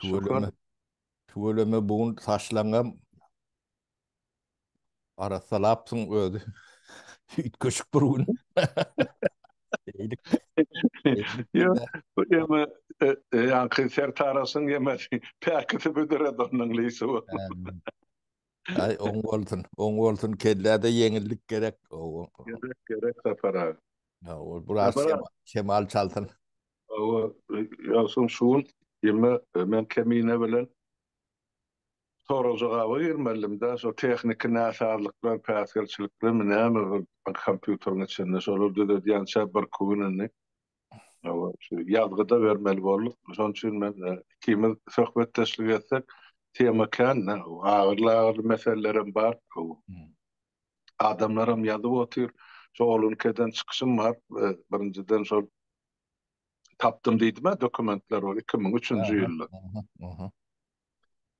Tüweleme, tüweleme bu gün saçlaňam arassalapsyň özi. Üýtgeşik bir gün. Eýdik. Ýok, bu ýeme ýaňky sertarasyň ýemesi päkisi büdüredi onuň lisi bu. Aý, oň bolsun, oň bolsun, kelläde ýeňillik gerek. Gerek, gerek Sapar aga. Ýa, ol biraz şemal çalsyn. Hawa, ýogsam şu gün ýeme men Kemine bilen sorag-jogaba girmelidimdä, şo tehniki näsazlyklar, päsgelçiliklermi näme bir kompýuteriň içinde, şolary düzedýänçä birki gün indi, hawa, şu ýazgy-da bermeli bolduk. Şonuň üçin men ikimiz söhbetdeşlik etsek, tema kän-dä, agyryly-agyryly meselelerem bar. adamlaram ýazyp otyr. Şo olunkeden çykyşym bar. Birinjiden şol tapdym diýdim-ä dokumentler ol iki müň üçünji ýylda.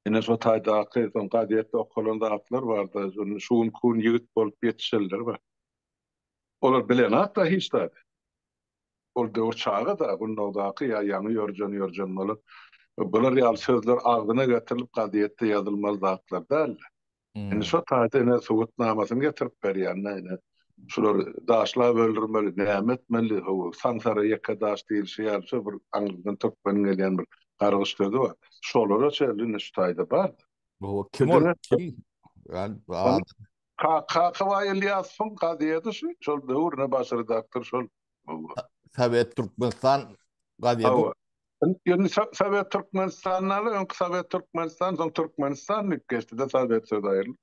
Ine şo taýdaky soň gazetde okalan zatlar bar-da, şu gün kun ýigit bolup ýetişenler bar. Olar bilenok-da hiç zady. Ol döwür çaga-da, gundagdaky ýa ýaňy ýörjen-ýörjen bolan. Bular ýaly sözler agzyna getirilip gazetde ýazylmaly zatlar däldi. Indi şo taýda ine subutnamasyny getirip berýänine ine şulary daşlap öldürmeli näme etmeli hawa saňsara ýeke daş diýilşi ýaly şo bir aňyrdan türkmeniň gelýän bir gargyş sözi bar şolara çenli indi şu taýda bar Hawa kim ol kim ýan ad Kakabaý Ylýasowyň gazýedi şu şol döwür ne baş redaktor şol Sowet Türkmenistan gazýedi Indi Sowet Türkmenistanyny öňki Sowet Türkmenistan, soň Türkmenistan diýip geçdi-de Sowet sözi aýrylyp.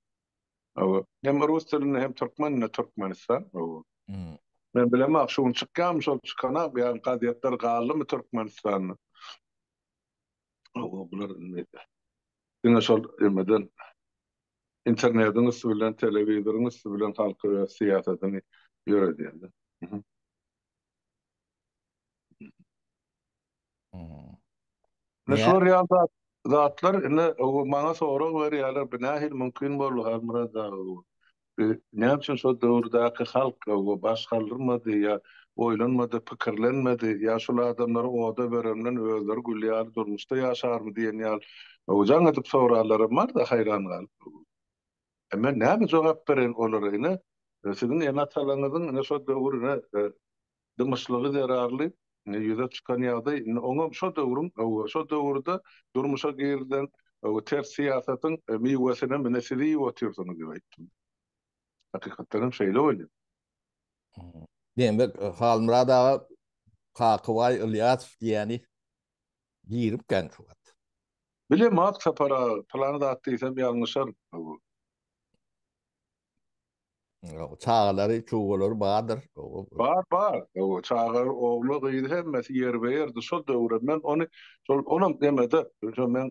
Hawa. Hem rus dilinde hem türkmen dilinde Türkmenistan. Hawa. Men bilemok, şu gün çykýarmy şol çykana, bu ýaryň gazetleri galdymy Türkmenistanda. Hawa, bular indi diňe şol emeden internetiň üsti bilen, telewizoryň üsti bilen halky öz syýasatyny ýöredýärler. Ine şular ýaly zatlar indi maňa sorag berýärler, bu nähili mümkin boldy Halmyrat aga bu? Näme üçin şol döwürdäki halk bu baş galdyrmady ýa oýlanmady, pikirlenmedi ýa şul adamlary oda bereninden özleri gül ýaly durmuşda ýaşarmy diýen ýaly jaň edip soraglaram bar-da haýran galyp. E men näme jogap bereýin olara ine? Siziň ene-atalaryňyzyň ine şo döwür ine dymyşlygy zerarly ine ýüze çykan ýagdaý indi oňam şo döwrüň oba şo döwürde durmuşa girilen oba ters syýasatyň miwesinem ine siz iýip otyrsyňyz diýip aýtdym. Hakykatdan hem şeýle bolýar. Diýmek Halmyrat aga Kakybaý Ylýasow diýýäni Girip gän şu wagt. Bilemok Sapar aga, pylany zat diýsem ýalňyşaryn. Çagalary, çuwalary bardyr. Bar, bar. Çaga, ogly, gyzy hemmesi ýerbe-ýerdi. Şol döwürem men ony, şol, olam nemede, şo meň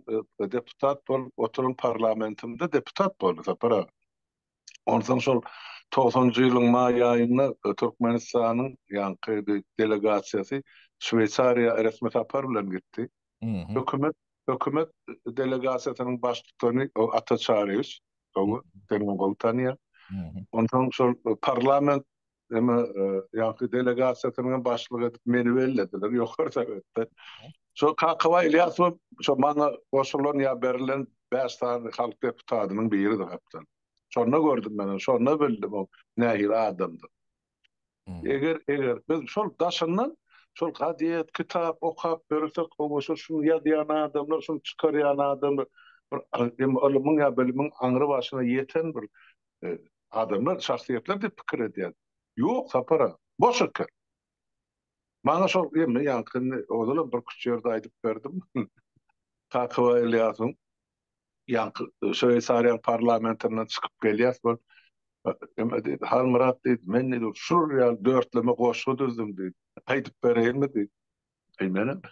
deputat bolup oturan parlamentimde deputat boldy Sapar aga. Onsoň şol togsanjy ýylyň maý aýynda Türkmenistanyň ýaňky bir delegasiýasy Şweýsariýa resmi sapar bilen gitdi. Hökümet hökümet delegasiýasynyň baştutany Ata Çaryýewiç, gowy, seniňem gowy tanýan. Onsoň şol parlament Emma ýaňky delegasiýasynyň hem başlygy edip meni bellediler ýokary sowetde. Şo Kakabaý Ilýasow şo maňa goşulan ýa berilen bäş sany halk deputatynyň biridi gapdan. Şonda gördüm men ony, şonda bildim o nähili adamdygyny. Eger, eger biz şol daşyndan şol gazet, kitap okap ýörsek, hawa şo şuny ýazýan adamlar, şuny çykarýan adamlar bir ylymyň ýa bilimiň aňry başyna ýeten bir adamlar, şahsyýetler diýip pikir edýän. Ýok, Sapar aga, boş eken. Maňa şol emmi ýaňkyny ozalam birküç ýerde aýdyp berdim. Kakyba Ylýasyň ýaňky Şweýsariýanyň parlamentinden çykyp gelýäs bol. Emmi diýdi, Halmyrat diýdi, men diýdi, şular ýaly dörtleme goşgy düzdüm diýdi. Aýdyp bereýinmi diýdi. Eý, menem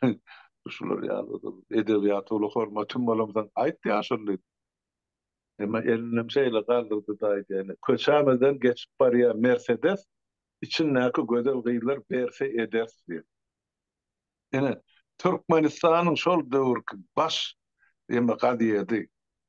şular ýaly edebiýata uly hormatym bolamsoň, aýt ýaşuly diýdim. Emma elinem şeýle galdyrdy-da aýdaýyny, köçämizden geçip barýan Mersedes içindäki gözel gyzlar berse ederis diýip. Ine, Türkmenistanyň şol döwürki baş eme gazýedi,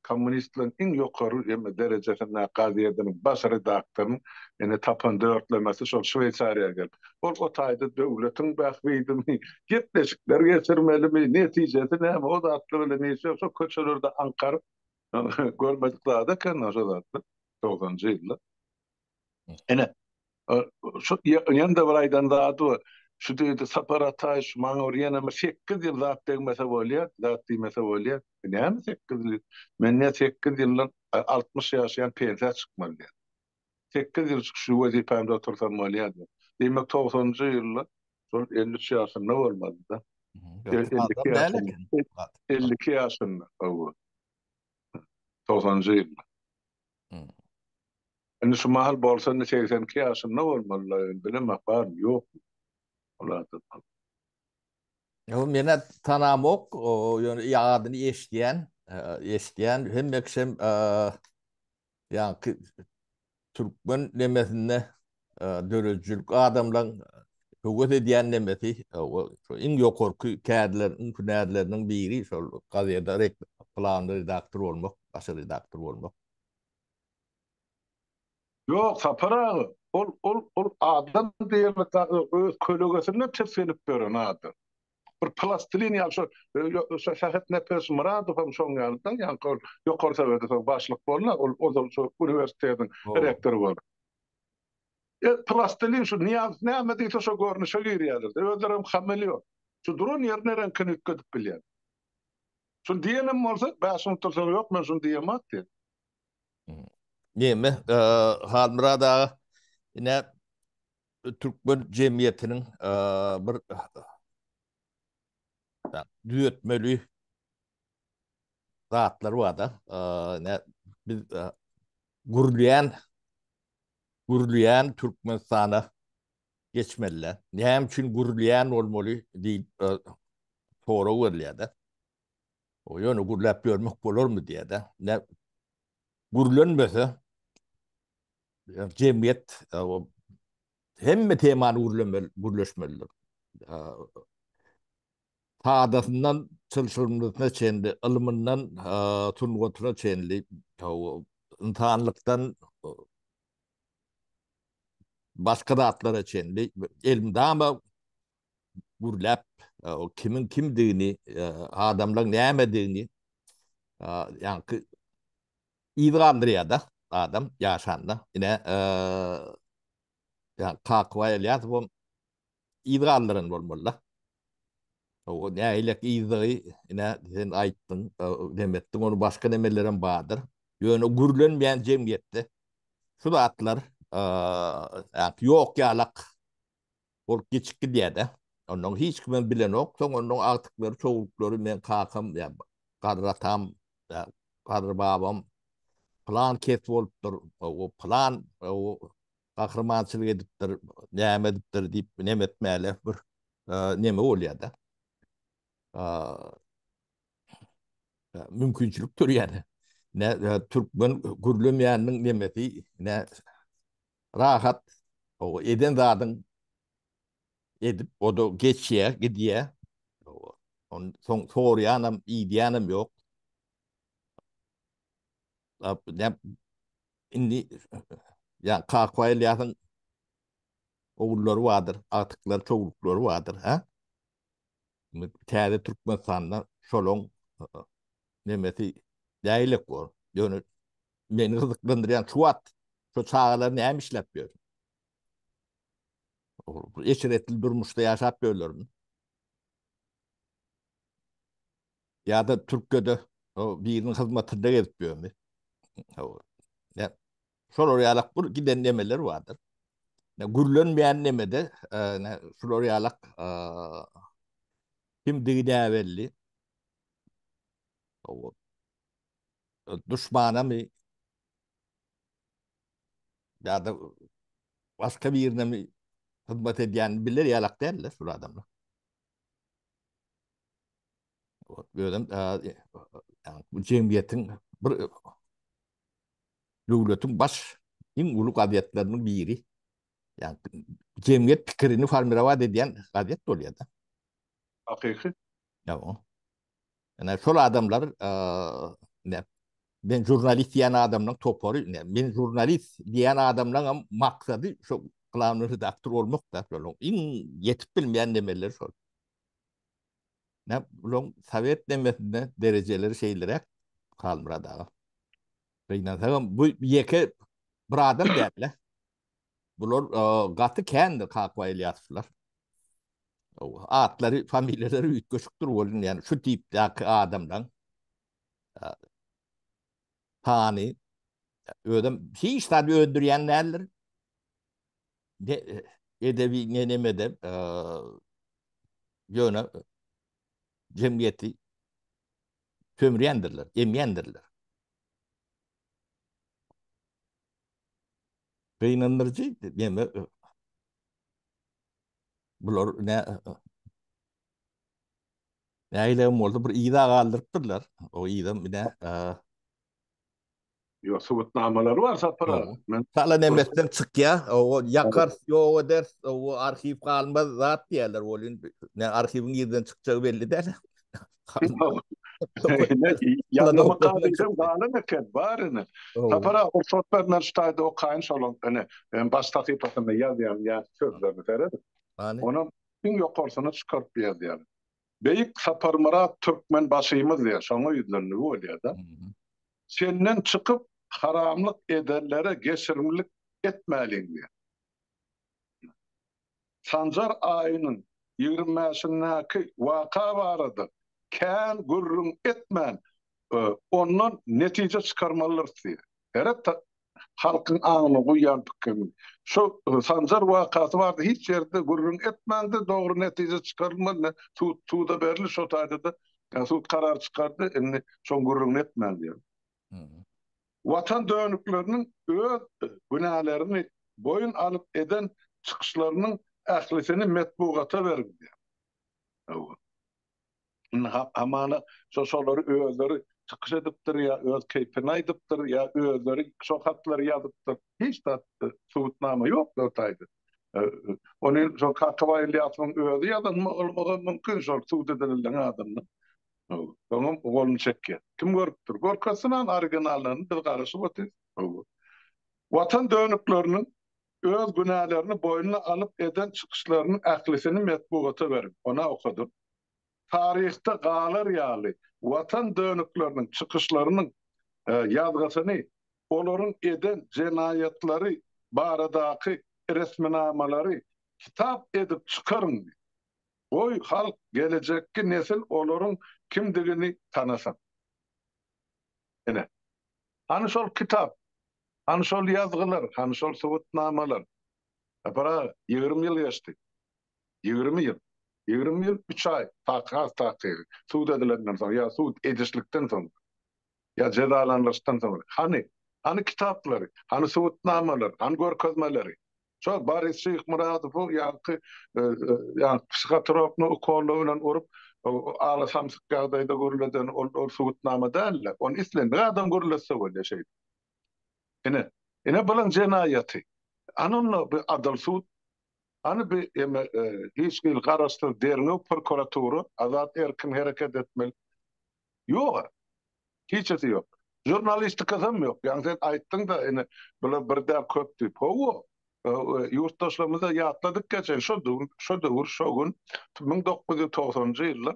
kommunistleriň iň ýokary eme derejesindäki gazýediniň baş redaktorynyň ene tapan dörtlemesi şol Şweýsariýa gelip, ol o taýda döwletiň bähbidimi, gepleşikler geçirmelimi, netijesi näme, o zatlar bilen işi ýok, şo köçelerde aňkaryp, Görmedik zat eken o zatlar. Togsanjy ýyllar. Ene. Şu ýanda bir aýdan zady bar. Şu diýdi Sapar Ataý şu maňa bir ýene bir 8 ýyl zat degmese bolýar, zat diýmese bolýar. Näme 8 ýyl? Men näme 8 ýyldan 60 ýaşaýan pensiýa çykmaly diýen. sekiz ýyl şu wezipämde otursam bolýardy. Diýmek, togsanynjy ýylda şol elli üç ýaşynda bolmalyda. Elli iki ýaşynda. Elli iki ýaşynda, hawa. Togsanynjy ýylda. Indi şu mahal bolsa, indi segsen iki ýaşynda bolmalyda, indi bilemok, barmy, ýokmy. Ol adam. Ýok, men-ä tanamok, ýöne adyny eşidýän, eşidýän. Hemme kişem Ýaňky türkmen nemesinde döredijilik adamlaryň höwes edýän nemesi, şol iň ýokarky kärleriň, hünärleriniň biri şol gazede planly redaktor bolmak, baş redaktor bolmak. Ýok, Sapar aga, ol, ol, ol adam diýenok, öz kölegesine tisginip ýören adam. bir plastilin ýaly şu şu Sähet Nepes Myradow hem şoň ýaly da ýa ol ýokary sebede soň başlyk boldy ol ozal şu uniwersitetiň rektory boldy. E plastilin şu Nyýazow näme diýse şo görnüşe girýärler de özleri hem hameleon. Şu duran ýerine reňkini üýtgedip bilýär. Şuny diýenem bolsa bäş minut dursaň ýok men şuny diýemok diýýär. Neme Halmyrat aga ine Türkmen jemgyýetiniň bir düzetmeli zatlary bar-da. Biz gurulýan, gurulýan Türkmenistana geçmeli-dä. Näme üçin gurulýan bolmaly diýip sorag berilýär-de. Ýöne gürläp ýörmek bolarmy diýýär-de. gürlenmese, jemgyýet hemme temany gürlemeli, gürleşmelidir. Sadasyndan çylşyrymlysyna çenli, ylmyndan sungatyna çenli, ynsanlykdan başga zatlara çenli elmydama gürläp, o kimiň kimdigini, adamlaryň nämedigini, ýaňky yz galdyrýar-da adam ýaşanda. Ine, ýa Kakybaý Ylýasowam yz galdyran bolmaly-da. O nähili yzdygy, ine, sen aýtdyň, neme etdiň, onuň başga nemelerem bardyr. Ýöne gürlenmeýän jemgyýetde şu zatlar ýok ýalak. Ol geçip gidýär-de. Onnoň hiç kimem bilenok. Soň onnoň agtyklary, çowluklary, meň kakam, ýa garry atam, ýa garry babam pylan kes bolupdyr, o pylan gahrymançylyk edipdir, näme edipdir diýip neme etmäle bir neme bolýar-da. Mümkinçilik dörýär. Türkmen gürlemeýäniniň nemesi, nä Rahat oba eden zadyň edip oda geçýä, gidýä. Oba. On soň sorýanam, iýdýänem ýok. Ap näp indi ýa kakwaýylýasyň ogullary bardyr, agtyklary, towluklary bardyr, hä? Täze Türkmenistanda şolaň nemesi däýlek bor. Ýöne meni gyzyklandyrýan şu wagt şu çagalar näme işläp ýör? Eşretli durmuşda ýaşap ýörlermi? Ýa-da Türkiýede biriniň hyzmatynda gezip ýörmi? Şolar ýalak bir giden nemeler bardyr. Ne gürlenmeýän nemede ne şular ýalak kimdigi näbelli. Ow. Duşmanamy? Ýa-da başga birinemi hyzmat edýän biler ýalak däldir şul adamlar. Özem ýa bu jemgyýetiň bir döwletiň baş, iň uly gazetleriniň biri. Ýagny jemgyýet pikirini formirowat edýän gazet bolýar-da. Hakyky. Ýa-o. Ine, şol adamlar, ine, men žurnalist diýen adamlaryň topary, ine, men žurnalist diýen adamlaryňam maksady şo glavnoý redaktor bolmak-da, şonuň iň ýetip bilmeýän nemeleri şol. Näm bulaň sowet nemesinde derejeleri şeýleräk Halmyrat aga. Gynansagam bu ýeke bir adam däl-le. Bular gaty kändir Kaka Ýasyplar. Atlary, familiýalary üýtgeşikdir welin, ýagny şu tipdäki adamlaň sany özem hiç zat öndürýän däldir. Ne edebi ne nemeden ýöne jemgyýeti sömürýändirler, emýändirler. Gynandyryjy näme bular ne Nägilegem bolsa bir yza galdyrypdyrlar. O yza bile Ýok, subutnamalary bar Sapar aga. Men Salan emekden çykýa, o ýakar, ýok eder, o arhiw galmaz zat diýerler welin, ne arhiwiň nirden çykjagy belli däl. Ýazma kagyzam galan eken, bar ine. Sapar aga, rugsat ber, men şu taýda okaýyn şonuň, ine, baş sahypasynda ýazýan ýa sözlerini seret. Onam iň ýokarsyny çykaryp ýazýan. Beýik Saparmyrat Türkmenbaşymyz diýýär, şoňa ýüzlenmegi bolýar-da. Senden çykyp, haramlyk edenlere geçirimlik etmäliň diýýär. Sanjar aýynyň ýigrimi bäşindäki waka barada kän gürrüň etmän, ondan netije çykarmalydyrys diýýär. Heret halkyň aňyna guýýan pikirimi. Şu Sanjar wakasy barada hiç ýerde gürrüň etmäňde dogry netije çykarylmady. Sud suda berildi şo taýda-da sud karar çykardy. Indi şoň gürrüňini etmäň diýýän. Watan dönükleriniň öz günälerini boýun alyp eden çykyşlarynyň ählisini metbugata beriň diýýän. Hawa. Indi hamana şo şolary özleri çykyş edipdir ýa öz keýpini aýdypdyr ýa özleri şo hatlary ýazypdyr. Hiç zat subutnama ýok o taýda. Ony şo Kakabaý Ylýasowyň özi ýazan bolmagy mümkin şol subut edilildiň adyndan. Soňam goluny çekýär. Kim görüpdir? Görkezsin an originallaryny biz garaşyp otyrys. Watan dönükleriniň Öz günälerini boýnuna alyp eden çykyşlarynyň ählisini metbugata berip, ony okadyp, taryhda galar ýaly Watan dönükleriniň çykyşlarynyň ýazgysyny, olaryň eden jenaýatlary baradaky resminamalary kitap edip çykaryň, goý, halk, gelejekki nesil olaryň kimdigini tanasyn. Ine, hany şol kitap, hany şol ýazgylar, hany şol subutnamalar? Sapar aga, ýigrimi ýyl geçdi. Ýigrimi ýyl. Ýigrimi ýyl, üç aý, takyk, has takygy, sud edilenden soň ýa sud edişlikden soň, ýa jezalandyryşdan soň. Hany? Hany kitaplary? Hany subutnamalar? Hany görkezmeleri? Şol Boris Şyhmyradowy ýaňky ýa psihotrokny ukolla bilen urup ala samsyk ýagdaýda gürleden ol ol subutnama dälde. Ony islendik adam gürletse bolýa şeý. Ine, ine bulan jenaýaty. Ana onda bir adyl sud. Ana bir eme hiç hili garaşsyz derňew prokuratura azat erkin hereket etmeli. Ýog-a. Hiç zat ýok. Žurnalistikasam ýok. Ýagny sen aýtdyň-da, ine, bular bir däl, köp diýip. Hawa. Ýurtdaşlarymyz-da ýatladyk geçen şo döwür, şo döwür, şo gün, müň dokuz ýüz togsanjy ýylda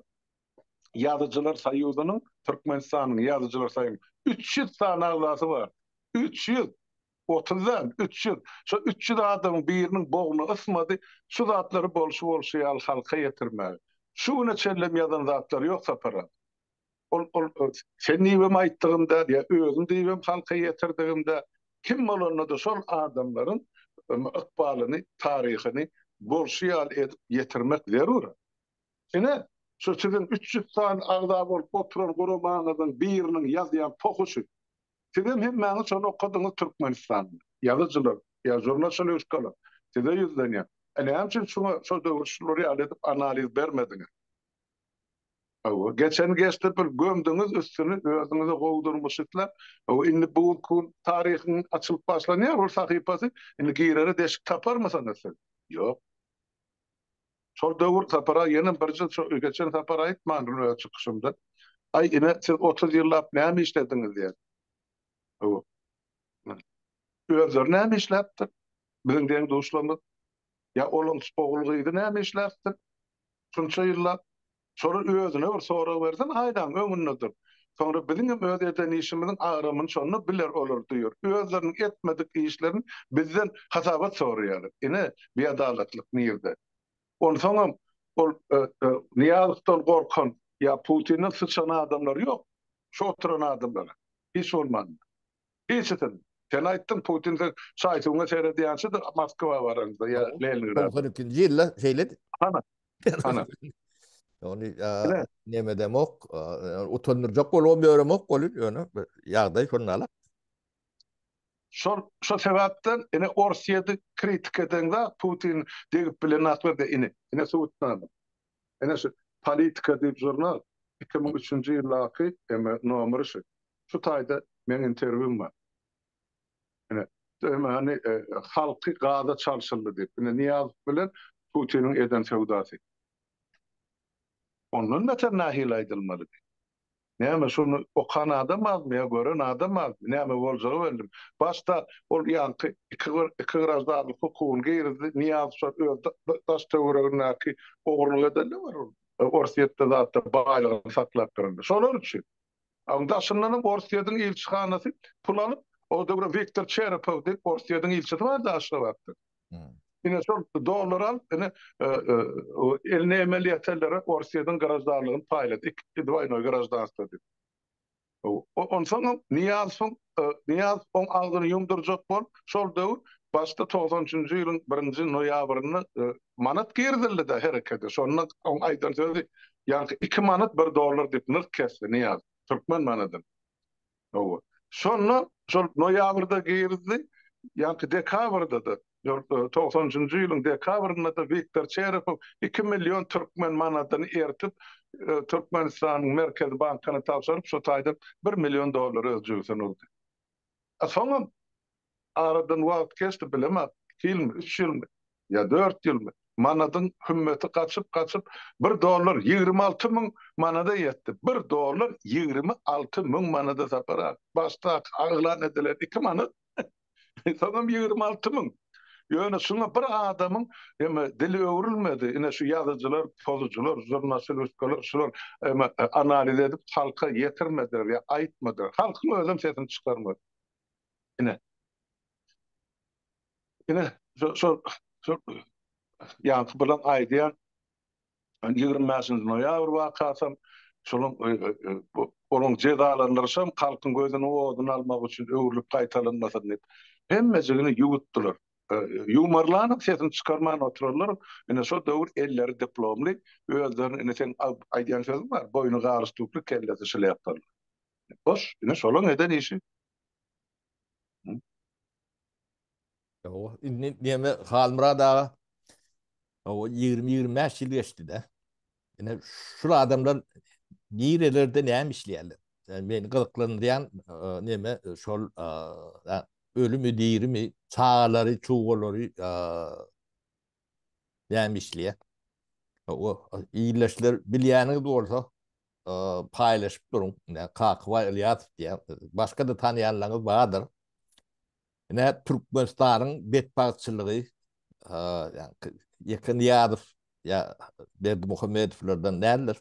Ýazyjylar soýuzynyň, Türkmenistanyň Ýazyjylar soýuzynyň üç ýüz sany agzasy bardy. Üç ýüz! Otuz däl, üç ýüz. Şo üç ýüz adamyň biriniň bogny ysmady şu zatlary bolşy-bolşy ýaly halka ýetirmäge. Şu güne çenlem ýazan zatlary ýok Sapar aga. Ol, ol sen diýibem aýtdygym däl, ýa özüm diýibem halka ýetirdigim däl. Kim bolanda-da şol adamlaryň ykbalyny, taryhyny bolşy ýaly edip ýetirmek zerur. Ine, şu siziň üç ýüz sany agza bolup oturan guramaňyzyň biriniň ýazýan tohuşy. Sizem hemmäňiz şony okadyňyz Türkmenistanda ýazyjylar ýa žurnalşalýuskalar size ýüzlenýär e näme üçin şuňa şo döwür şular ýaly edip analiz bermediňiz hawa geçeni geçdi bir gömdüňiz üstüni özüňize gowy durmuş isläp hawa indi bu gün taryhyň açylyp başlanýar ol sahypasy indi girere deşik taparmysyňyz siz ýok. Şol döwür Sapara ýene bir jyl şo geçen sapar aýtmandyr öz çykyşymda. Aý ine siz otuz ýyllap näme işlediňiz diýen. Hawa. Özleri näme işläpdir? Biziň deň-duşlarymyz. Ýa olaň ogul-gyzy näme işläpdir? Şunça ýyllap Şolar özüne bir sorag bersin haýdaň öňünde dur. Soňra biziňem öz eden işimiziň agramyny şonda biler olar diýer. Özleriniň etmedik işlerini bizden hasabat soraýarlar. Ine biadalatlyk nirde. Onsoňam ol Nyýazowdan gorkan ýa Putinden syçan adamlar ýok. Şu oturan adamlar hiç bolmanda. Hiçsin. Sen aýtdyň, Putin sen şaý-suwuňa seredýänçidir Moskwa baranda ýa Leningrada. Togsan ikinji ýylda şeýledi. Hana. Hana. Ony neme demok, utandyrjak bolubam ýöremok ol il, ýöne ýagdaý şondaly. Şol, şo sebäpden ine Orsýedi kritik edeňde Putin degip bilenaklar de ine, ine subutnama. Ene şu Politika diýip žurnal, iki müň üçünji ýyldaky eme nomeri şu. Şu taýda meň interwýum bar. Ene, eme hany halky gaza çalşyldy diýip. Ine Nyýazow bilen Putiniň eden söwdasy. Ondan beter nähili aýdylmalydy. Näme, şuny okan adam azmy ýa gören adam azmy? Näme boljagy bellim. Başda ol ýaňky iki iki graždanlyk hukugyny girizdi. Nyýazow öz daş-töweregindäki ogurlyk edende bar ol. Orsýetde zatda baýlygyny saklap duranda. Şolar üçin. A indi daşyndanam Orsýetiň ilçihanasy pul alyp, o döwür Wiktor Çerepow diýip Orsýetiň ilçisi bardy Aşgabatda. Ine şol dollar al, ine eline emel ýeterlere Orsýetiň graždanlygyny paýlat, iki dwaýnoý graždanstwo diýip. Onsoňam Nyýaz soň Nyýaz oň agzyny ýumdurjak bol, şol döwür başda togsan üçünji ýylyň birinji noýabrynda manat girizildi-de herekete, şonda oň aýdan sözi ýaňky iki manat bir dollar diýip nyrh kesdi Nyýaz, türkmen manadyny. Hawa. Şonda şol noýabrda girdi, ýaňky dekabrda-da, togsan üçünji ýylyň dekabrynda-da Wiktor Çerepow iki million türkmen manadyny eritip, Türkmenistanyň Merkezi bankyna tabşyryp, şo taýdan bir million dollary öz jübüsine urdy. Soňam Aradan wagt geçdi, bilemok, iki ýylmy, üç ýylmy ýa dört ýylmy, manadyň hümmeti gaçyp-gaçyp, bir dollar ýigrimi alty müň manada ýetdi. Bir dollar ýigrimi alty müň manada, Sapar aga. Başdaky aglan edilen iki manat, soňam ýigrimi alty müň. Ýöne şuňa bir adamyň eme dili öwrülmedi. Ine, şu ýazyjylar, pozujylar, žurnastilistkalar şular eme analiz edip halka ýetirmediler ýa aýtmadylar. Halkyň özem sesini çykarmady. Ine. Ine, şol, şol, şol, ýaňky bilen aýdýan, 25-nji noýabr wakasam, şonuň, e, e, e, bu, onuň jezalandyryşam halkyň gözüni oduna almak üçin öwrülip gaýtalanmasyn diýip, hemmejigini ýuwutdylar. E, Ýumarlanyň sesini çykarman oturarlar, ine, şol döwür elleri diplomly, özlerini, ine, seň a- aýdýan sözüň bar, boýny galyş tüwkli, kellesi şlýapaly. Boş, ine, şolaň eden işi. Ýo, indi diýme Halmyrat aga. O 20-25 ýyl geçdi-de. Ine şu adamlar nirelerde näme işleýärler? Yani meni gyzyklanýan e, näme e, şol e, ölümi dirimi, çagalary, çugalary näme işleýär? O ildeşler bilýäniňiz bolsa paýlaşyp duruň. Kakybaý Ylýasow diýýär. Başga-da tanýanlaryňyz bardyr. Ine Türkmenistanyň betbagtçylygy ýa-da Ýeke Nyýazow ýa Berdimuhamedowlardan däldir.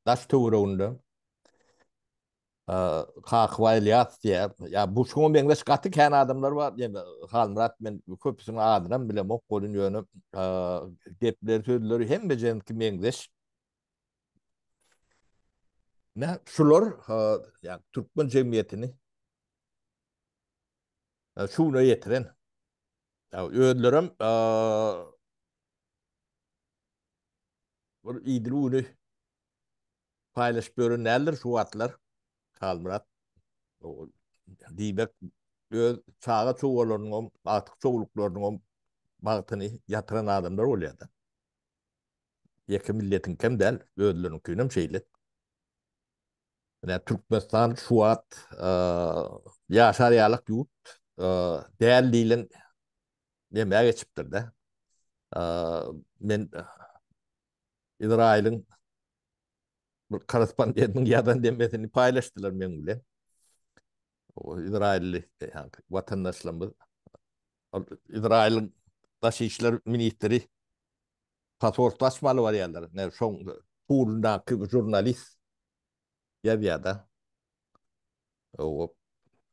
Daş-töwereginde Kaka Ylýas diýýär. Ýa bu şuňa meňzeş gaty kän adamlar bar. Ýene Halmyrat men köpüsiniň adynam bilemok bolun ýöne gepleri sözleri hemmejenki meňzeş. Nä şular ýa türkmen jemgyýetini şu güne ýetiren. Ýa özlerem bir idil güni paýlaşyp ýören däldir şu wagtlar Halmyrat. Diýmek, öz çaga-çowalarynyňam, agtyk-çowluklarynyňam bagtyny ýatyran adamlar bolýar-da. Ýeke milletiňkem däl, özleriniňkinem şeýle. Menä Türkmenistan şu wagt ýaşar ýalyk ýurt däl diýlen nemä geçipdir-de. Men Izraýylyň bir korrespondentiniň ýazan demesini paýlaşdylar meň bilen. Izraýylly watandaşlarymyz Izraýylyň daşy işler ministri pasporty açmaly barýarlar. Näme şoň pulundaky žurnalist ýazýar-da.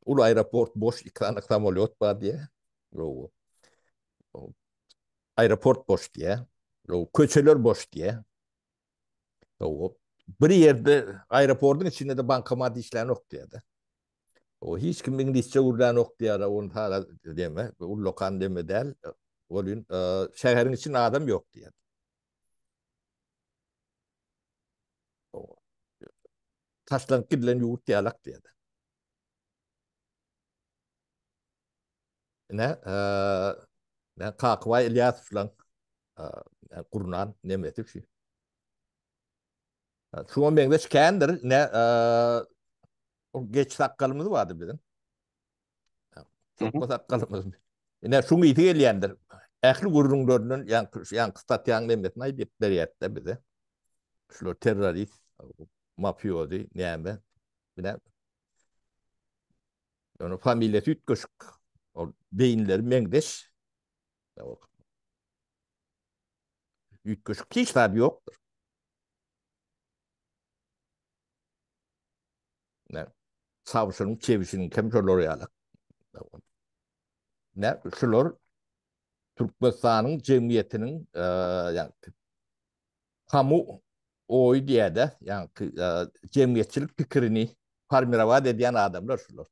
Uly aeroport boş, iki sany samolýot bar diýýär. Aeroport boş diýýär. Köçeler boş diýýär. Bir ýerde aeroportyň içinde-de bankomat işlänok diýýär-de. Hiç kim iňlisçe gürlänok diýýär, ony saga deme, ullakan deme däl. Welin, şäheriň içinde adam ýok diýýär. Taşlanyp gidilen ýurt ýalak diýýärler. Ine, men Kakybaý Ylýasowlaň gurnan nemesi üçin. Şuňa meňzeş kändir, ine, o geç sakgalymyz bardy biziň. Sokma sakgalymyz. Ine şu ýiti gelýändir. Ähli gürrüňlerinden ýaňky ýaňky statýanyň hemmesini aýdyp berýärdi bize. Şular terrorist, mafiozi, näme? Bile. Ýöne familiýasy üýtgeşik. Ol beýinleri meňzeş. Üýtgeşik hiç zat ýokdur. Ne? Savşynyň, çewisiniň kim şolar ýaly. Ne? Şular Türkmenistanyň jemgyýetiniň e, ýa kamu oý diýäde, ýa e, jemgyýetçilik pikirini formirowat edýän adamlar şular.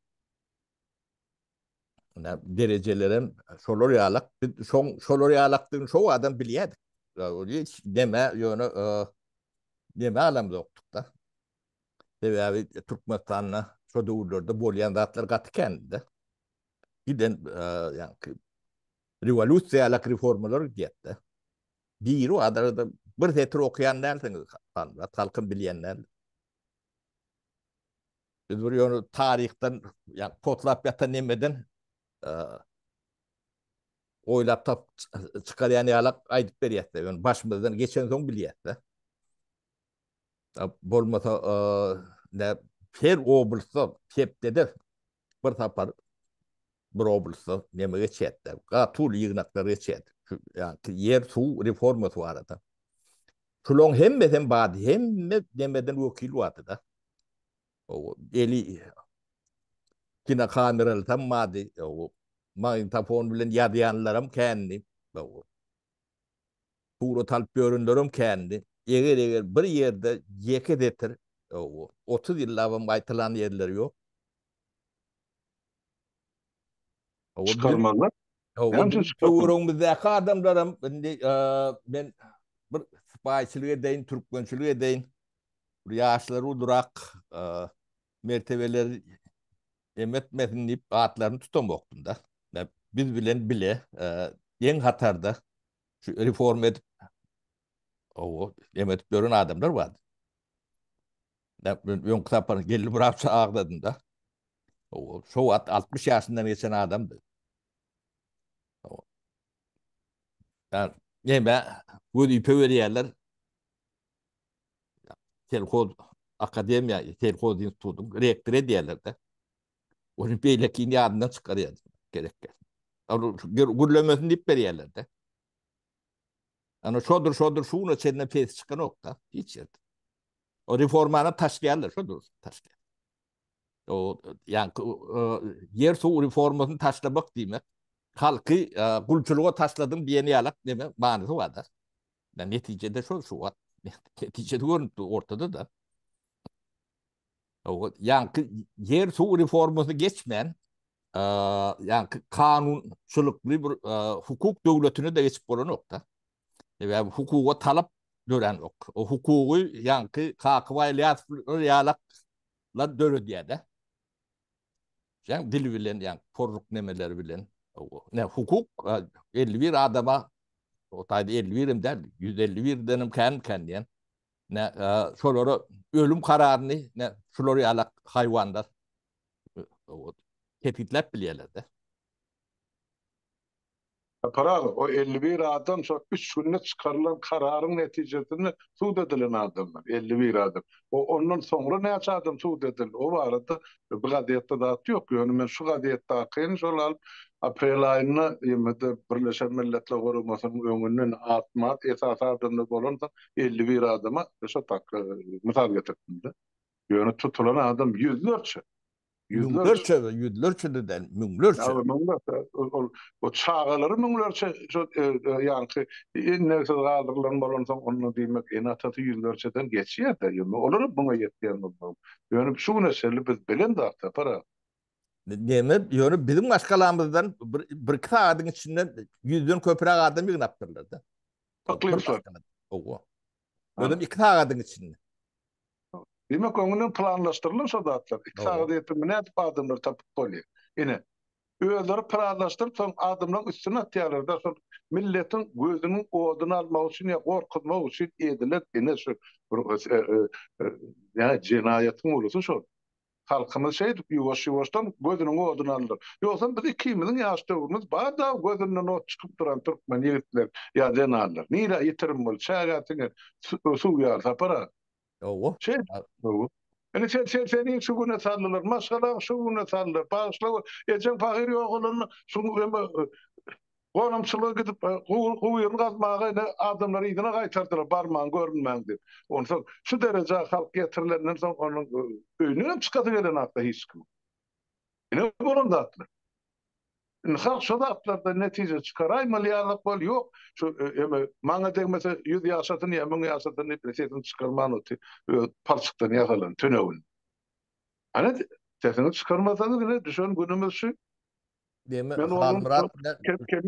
Ne? Derejelerem şolar ýaly. Biz şoň şolar ýalydygyny şo adam bilýärdik. Ýa ýa deme ýöne e, deme alam ýokdukda. Sebäbi Türkmenistanda şo döwürlerde bolýan zatlar gaty kändi-de. Giden ýaňky rewolýusiýalak reformalar gidýär-de. Birbada bir setir okaýan dälsiňiz, Halmyrat, halkym bilýän däl. Biz bir ýöne taryhdan, ýa potlap ýatan nemeden oýlap tapyp çykarýan ýalak aýdyp berýäs-de, ýöne başymyzdan geçensoň bilýäs-de. Bolmasa näp her oblysda hepdede bir sapar bir oblysda neme geçýärdi. Gatul ýygnaklar geçýärdi. Ýa-da ýer suw reformasy barada. Şularyň hemmesi hem bardy. Hemme demeden wekil bardy da. O eli kina kameraly tam bardy. O magnitofon bilen ýazýanlaram kändi. Surat alyp ýörenlerem kändi. Eger eger bir ýerde ýeke setir otuz ýyllabam gaýtalan ýerleri ýok. Çykarmazlar. Näme üçin çykarmazlar? Töweregimizdäki adamlaram indi men bir sypaýyçylyk edeýin, türkmençilik edeýin. Bir ýaşlary ulyrak mertebeleri Em etmesin diýip atlaryny tutamokdym-da. Ýa biz bilen bile deň hatarda şu reforma edip owo em edip ýören adamlar bardy. Näp men öňki sapar geldi bir hapsa agladym-da. Owo şo wagt 60 ýaşyndan geçen adamdy. Owo. Ýa näme wezipe berýärler. Selhoz akademiýa, selhoz institutyň rektory diýerler-de. Ony beýlekini ýadyndan çykarýar gerek gel. Gürlemesin diýip berýärler-de. Ana şodur, şodur, şu güne çenli pes çykanok-da, hiç ýerde. O reformany taşlaýarlar, şodur, taşlaýar. O, ýa ýer suw reformasyny taşlamak diýmek, halky gulçulyga taşladyň diýen ýalak, deme, manysy bar-da. Ýa netijede şol şu wagt netijesi görnüp dur ortada-da. Ýaňky ýer suw reformasy geçmän, ýaňky kanunçylykly bir hukuk döwletine-de geçip bolanok-da. Sebäbi hukuga talap döränok. O hukugy ýaňky Kakabaý Ylýasowlar ýalaklar döredýär-de. Jan dil bilen jan poruk nemeler bilen ne hukuk 51 adama o taýda 51 hem däl 151 denem kän kän diýen ne şolara ölüm kararyny ne şular ýalak haýwanlar kesgitläp bilýärler-de. Saparaly, o elli bir adam şo üç günde çykarylan kararyň netijesinde sud edilen adamlar, elli bir adam. O ondan soňra näçe adam sud edildi, o barada bu gazetde zat ýok. Ýöne men şu gazetdakyny şol alyp, aprel aýynda BMG-de, Birleşen Milletler Guramasynyň öňünden at-mat esasy adamlar bolansoň, elli bir adama şo tak, mysal getiripdim-de. Ýöne tutulan adam ýüzlerçe. Müňlerçe, ýüzlerçe-de däl, müňlerçe. Ýa, müňlerçe, ol, o çagalary müňlerçe, şu, e, e, ýaňky, indeksiz galdyrylan bolansoň, onda diýmek, ene-atasy ýüzlerçeden geçýär-de, ýöne olar muňa ýetýän bolmaly. Ýöne şu güne çenli biz bilen zat tapar a. Näme, ýöne biziň maşgalamyzdan bir, bir-iki sagadyň içinde ýüzden köpräk adam ýygnapdyrlar-da. Yklymçylar. Owo. Özüm iki sagadyň içinde. Demek, öňünden planlaşdyrylan şo zatlar. Iki sagada ýetip, nädip adamlary tapyp bolýar? Ine, özleri planlaşdyryp, soň adamlaryň üstüne atýarlar-da, şol milletiň gözüniň oduny almak üçin ýa gorkuzmak üçin edilen, ine, şu bir, ýa jenaýatyň ulusy şol. Halkymyz şeýdip ýuwaş-ýuwaşdan gözüniň oduny aldyr. Ýogsam biz ikimiziň ýaş döwrümiz bar-da gözünden ot çykyp duran türkmen ýigitler ýa zenanlar. Nirä ýitirim bol, çägä siňe suw ýar Sapar-a. Hawa. Şeýdip. Hawa. Indi sen, sen, seniň şu güne saldylar, maşgalaň şu güne saldylar. Bagyşla we ejeň pahyr ýogalanda şuň hem Gonamçylyga gidip, guýyny gazmaga ine, adamlary yzyna gaýtardylar, barmaň, görünmäň diýip. Onsoň, şu derejä halk ýetirilenden soň, onuň öýünden hem çykasy gelenok-da hiç kimiň. Ine, bolan zatlar. Indi halk şo zatlardan netije çykaraýmaly ýalyk bol, ýok, şu eme, maňa degmese, ýüz ýaşasyn ýa müň ýaşasyn diýip, sesini çykarman otyr, öz palçykdan ýasalan tünegini. Hany, sesiňizi çykarmasaňyz, ine, düşen günümiz şu. Demi Men ondan Halmyrat bilen kem kem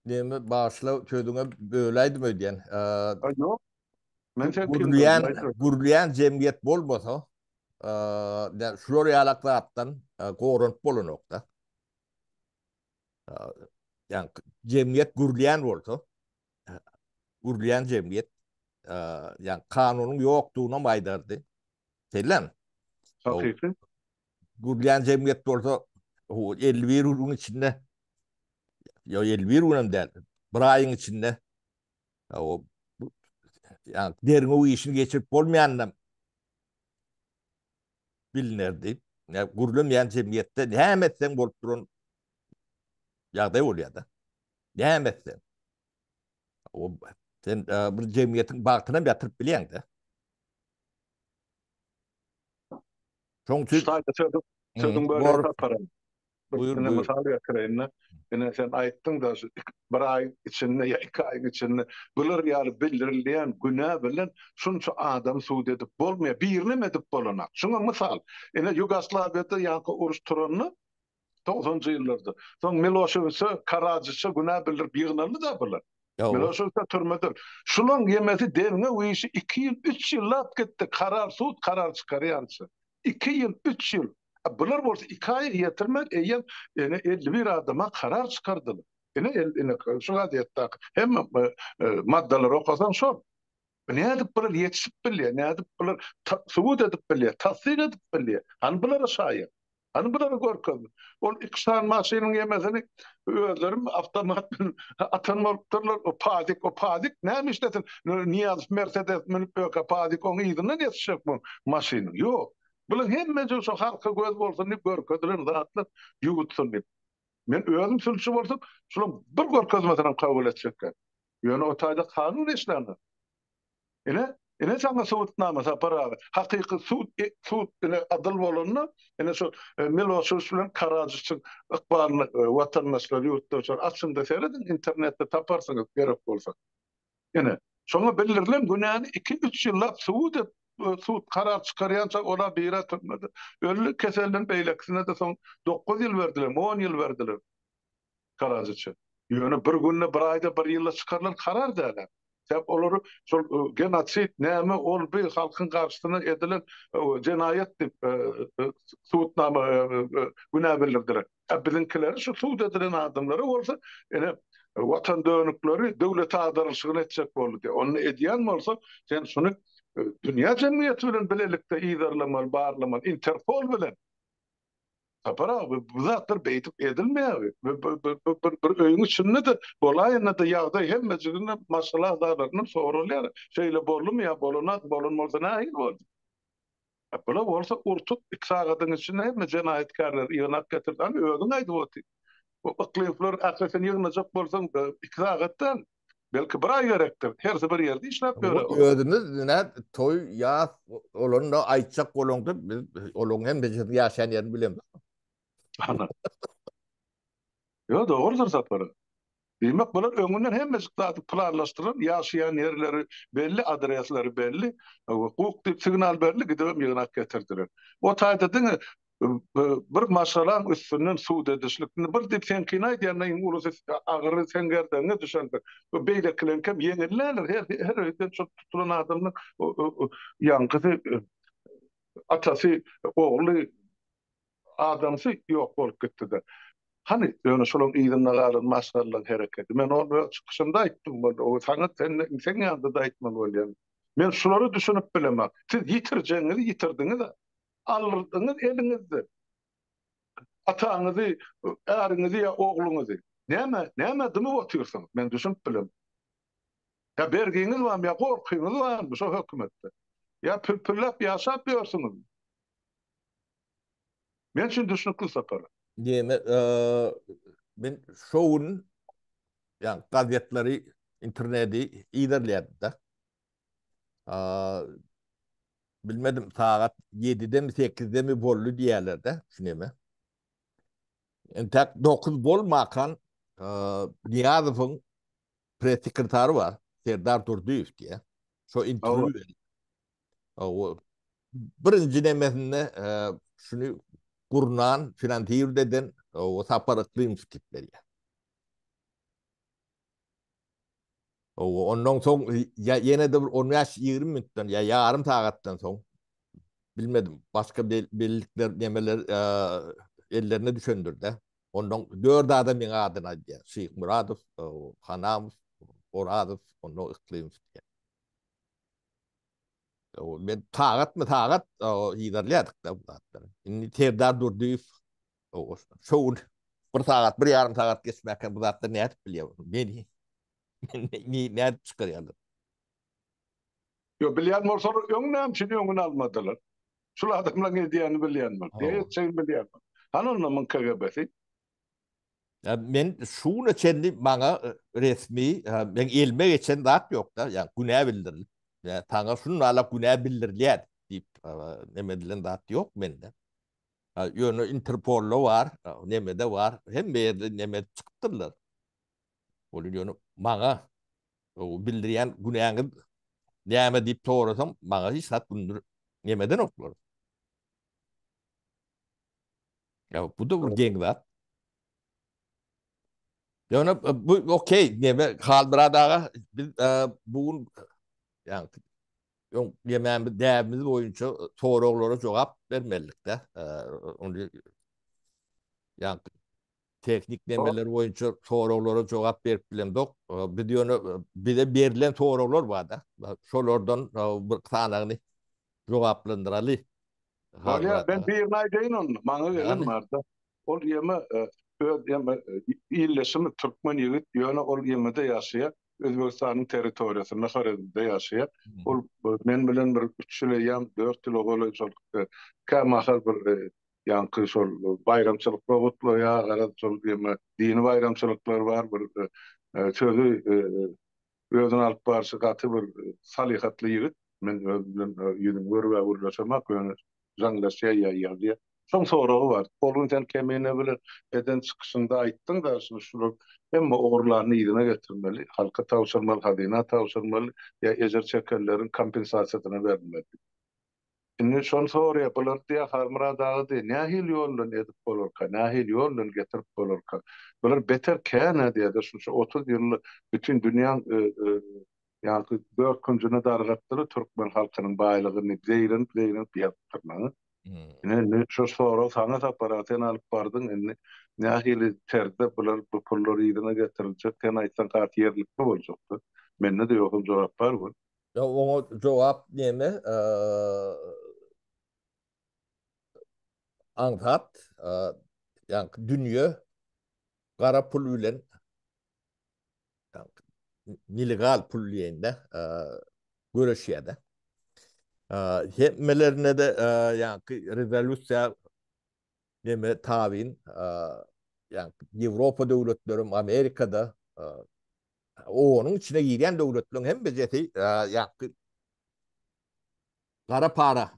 Demi başla sözüňe böläýdim öýdýän. Eee, Yok. Men sen Gürleýän, gürleýän jemgyýet bolmasa, eee, şular ýalak zatdan e, goranyp bolanokda. Ýani jemgyýet gürleýän bolsa, gürleýän jemgyýet, eee, ýani kanunyň ýokdugyny hem aýdardy. Şeýlemi? Hakyky. Gurlan jemgyýet bolsa elli bir günüň içinde ýa elli bir günem däl, bir aýyň içinde o ýa derňew işini geçirip bolmaýanynam bilnerdi. Ýa gurlanmaýan jemgyýetde näme etseň bolup duran ýagdaý bolýar-da. Näme etseň. O sen bir jemgyýetiň bagtyny hem ýatyryp bilýäň-de. Şoň üçin Şaýda sözüň sözüň bölegi taparam. Buyur, buyur. Mysal getireýin-de. Ine sen aýtdyň-da şu bir aýyň içinde ýa iki aýyň içinde bular ýaly bildirilýän günä bilen şunça adamy sud edip bolmaýar. Birinem edip bolanak. Şuňa mysal. Ine Ýugoslawiýada ýaňky uruş turanda togsanjy ýyllarda. Soň Miloşewiçe, Karadžiçe günä bildirip ýygnaldy-da bular. Miloşewiçe türmede. Şulaň ýemesi derňew işi iki ýyl, üç ýyllap gitdi, karar, sud karar çykarýança. Iki ýyl, üç ýyl. A bular bolsa iki aýa ýetirmän eýýäm ene elli bir adama karar çykardylar. Ene, ene, şu gazetdaki hemme maddalary okasaň şol. Nädip bular ýetişip bilýär, nädip bular subut edip bilýär, tassyk edip bilýär? Hany bulara şaýat? Hany bulara görkezme? Ol iki sany maşynyň ýemesini özleri awtomat bilen atan bolupdyrlar. O Padik, o Padik näme işlesin? Nyýazow Mersedes münüp öka Padik oň yzyndan ýetişjek bu maşynyň? Ýok. Bular hemmesi şu halka göz bolsun diýip görkezilen zatlar, ýuwutsun diýip. Men özüm sülçi bolsam, şularyň bir görkezmesinem kabul etjek däl. Ýöne o taýda kanun işländir. Ine, ine saňa subutnama Sapar aga. Hakyky sud, sud ine adyl bolanda, ine şol Miloşewiç bilen Karadžiçiň ykbalyny watandaşlar, ýurtdaşlar açyň-da serediň, internetde taparsyňyz gerek bolsa. Ine, şoňa bildirilen günäni iki, üç ýyllap subut et, sud karar çykarýança ola bire türmede. Öldi, keselden beýlekisine-de soň dokuz ýyl berdiler, on ýyl berdiler. garajy üçin. Ýöne bir günde, bir aýda, bir ýylda çykarylan karar dälä. Sebäp olary şol genosid, näme ol bi halkyň garşysyna edilen jenaýat diýip subutnama günä bildirdiler. A biziňkileri şu subut edilen adamlara bolsa ine watan dönükleri döwlete agdarylyşygyny etjek boldy diýip. Onda edýän bolsa sen şuny dünýä jemgyýeti bilen bilelikde yzarlamaly, barlamaly, interpol bilen. Sapar aga bu zatlar beýdip edilmeýär. Bir öýüň içinde-de bolaýanda-da ýagdaý hemmejigine maşgala agzalaryndan soralýar. Şeýle boldumy ýa bolanok, bolan bolsa nähili boldy? Bular bolsa urtup iki sagadyň içinde hemme jenaýatkärleri ýygnap getirdi. Hany özüň aýdyp otyr. Bu yklyplar ählisini ýygnajak bolsaň iki sagat däl. Belki bir aý gerekdir. Hersi bir ýerde işläp ýöre. Özümiz nät toý ýas olanda aýtjak bolanda biz olaryň hem bizin ýaşan ýerini bilemis. Hana. Ýo dogrudyr Sapar. Diýmek bolar öňünden hemmejik zady planlaşdyran ýaşaýan ýerleri belli adresleri belli. Guk diýip signal berli gidibem ýygnak getirdiler. O taýda diňe bir maşgalaň üstünden sud edişlik, indi bir diýip seň kyn aýdýanyň iň ulusy agyry seň gerdegiňe düşendir, beýlekileriňkem ýeňillerdir, her öýden şol tutulan adamdan ýaňkysy atasy, ogly, adamsy ýok bolup gitdi-de. Hany, ýöne şolaň yzynda galan maşgalaň hereketi, men ony öz çykyşymda aýtdym boldy, o saňa seň ýanda-da aýtmaly bolýan. Men şulara düşünip bilemak, siz ýitirjegiňizi ýitirdiňiz-ä. Aldyňyz eliňizde ataňyzy, äriňizi ýa ogluňyzy. Näme, näme dymyp otyrsyňyz? Men düşünip bilemok. Ýa bergiňiz barmy, ýa gorkyňyz barmy şo hökümetden? Ýa pürpürläp ýaşap ýörsüňizmi? Men üçin düşnükli Sapar. Diýmek, men şo gün, ýa gazetleri, interneti yzarlaýardym-da. Bilmedim, sagat ýedidemi, sekizidemi boldy diýýärler-de, şuneme. Entäk dokuz bolmakan Niýazowyň press-sekretary bar, Serdar Durdyýew diýýär. Şo interwýu berýär. Hawa. Birinji nemesinde şuny gurnan, finansirowat eden Sapar Yklymow diýip berýär. Ondan soň ýene-de bir on bäş, ýigrimi minutdan ýa ýarym sagatdan soň, bilmedim, başga bellikler, nemeler ellerine düşendir-de, ondan dört adam meň adyny aýdýar, Şyhmyradow, Hanamow, Orazow, ondan Yklymow diýen. Men sagatma-sagat yzarlaýardyk-da bu zatlary. Indi Serdar Durdyýew Ogulhan. Şo gün bir sagat, bir ýarym sagat geçmäkkä bu zatlar nädip bilýär bolsun? Nediýin? Nädip çykarýarlar? Ýok, bilýän bolsalar, öň näme üçin öňüni almadylar? Şul adamlaryň edýänini bilýän bolup, ne etjegini bilýän bolup. Hany onda muň KGB-si? Men şu güne çenli maňa resmi, meň elime geçen zat ýok-da, ýa günä bildirilip, ýa saňa şunlala günä bildirilýär diýip, neme edilen zat ýok mende. Ýöne interpolda bar, nemede bar, hemme ýerde neme çykypdyrlar. Ol ýöne maňa bildirýän günäňiz näme diýip sorasam, maňa hiç zat bildirip nemedenoklar. Ýa bu-da bir geň zat. Ýöne bu okey, neme Halmyrat aga, biz bu gün ýagny öň ýemänmiz däbimiz boýunça soraglara jogap bermelilikde. Ony ýagny tehnik nemeler boýunça soraglara jogap berip bilemzok. Biz ýöne bize berlen soraglar bar-da. Şolardan bir sanagyny jogaplandyraly. Bolýar, men birini aýdaýyn onda, maňa gelen barda. Ol ýeme öz ýeme ildeşimi türkmen ýigit, ýöne ol ýemede ýaşaýar, Özbegistanyň territoriýasynda, Horezmde ýaşaýar. Ol men bilen bir üç ýyl eýýäm, dört ýyla golaý şol kä mahal bir ýaňky şol baýramçylyklar gutlaýar, garaz şol ýeme dini baýramçylyklar bar, bir sözi Özüni alyp barşy gaty bir salyhatly ýigit. Men öz bilen ýüzüni görübä gürleşemok, ýöne jaňlaşýar, ýaýýar diýýär. Soň soragy bar. Ol gün sen Kemine bilen eden çykyşyňda aýtdyň-da, şuny şular hemme ogurlaryny yzyna getirmeli, halka tabşyrmaly, hazyna tabşyrmaly ýa ejir çekenleriň kompensasiýasyna berilmeli diýip. Indi şony soraýa, bulary diýä Halmyrat aga diýä nähili ýol bilen edip bolarka, nähili ýol bilen getirip bolarka? Bular beter kän-ä diýä-de, şunça otuz ýylly bütin dünýäň ýaňky dört künjüne dargatdylar türkmen halkynyň baýlygyny, zeýrenip-zeýrenip ýazypdyrlar. Ine, indi şu sorag saňa Sapar-a, sen alyp bardyň, indi nähili terzde bular, bu pullar yzyna getiriljek, sen aýtsaň has ýerlikli boljak-da. Mende-de ýogsam jogap bar gör. Ýa oňa jogap näme? Aňsat, ýaňky dünýe gara pul bilen nelegal pul diýende göreşýär-de. Hemmelerine-de ýaňky rezolýusiýa näme tabyn, ýaňky Ýewropa döwletleri, Amerika-da Onuň içine girýän döwletleriň hemmesi ýaňky gara para